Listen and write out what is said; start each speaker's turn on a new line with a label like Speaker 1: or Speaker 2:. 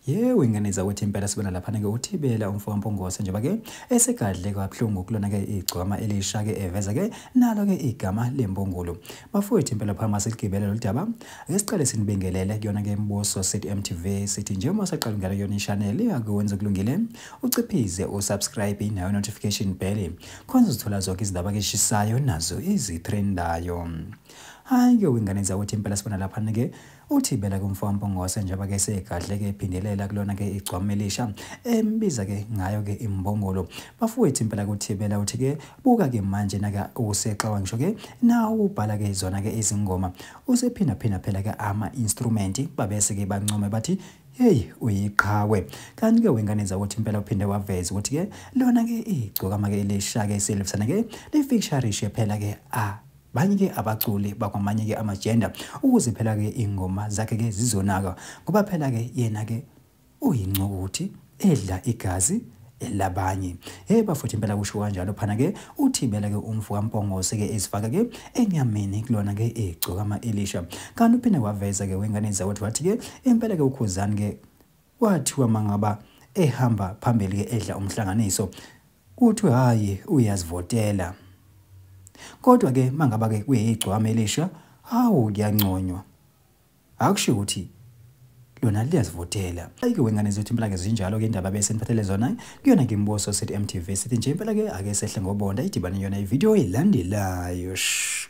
Speaker 1: yewe ingane zakwethu impela sibona laphana-ke uthibela umfo wampongose njengoba-ke esegadle kabuhlungu kulona-ke igcwama elisha-ke eveza-ke nalo-ke igama lempungulu bafowethu impela phama siligibele lolu daba ake siqale sinibingelele kuyona-ke imibuso sithi mtv sithi njengoba saqala ngalo yona ishaneli akuwenza kulungile uciphize usubscribe nayo notification bell khona uzithola zonke izindaba keshisayo nazo izithrendayo hayi-ke wingane zakuthi impela sibona laphana-ke uthibela kumfowambongose njengoba-ke segadle-ke ephindelela kulona-ke igcwama elisha embiza-ke ngayo-ke imbongolo bafowethu impela kuthibela uthi-ke buka-ke manje nake usexawa ngisho-ke nawo ubhala-ke zona-ke izingoma usephindaphinda phela-ke ama-instrumenti babese-ke bancome bathi Hey uyiqhawe kanti ke wengane zakuthi impela uphinde waveza ukuthi ke lona ke igcokama ke lisha ke silifana ke lifiksharishe phela ke a ah, banye ke abaculi bakwamanye ke amagender ukuze phela ke ingoma zakhe ke zizonaka ngoba phela ke yena ke uyincukuthi edla igazi elabanye hey bafuthu impela kusho kanjalo phana ke uthibela ke umfu kampongose ke ezifaka ke enyameni kulona ke egcoka ama Elisha kanti uphinde waveza ke wengane zawethu wathi ke impela ke ukhuzani ke wathiwa mangaba ehamba phambili ke edla umhlanganiso uthi hayi uyazivotela kodwa ke mangaba ke kuyigcwama elisha hawu kuyanconywa Akusho ukuthi lona liyazivotela ayike wengane zethu impela ke zinjalo ke indaba bese niphathele zona kuyona ke imbuso sithi MTV sithi nje impela ke ake sehle ngobonda idibane yona ivideo elandelayo shh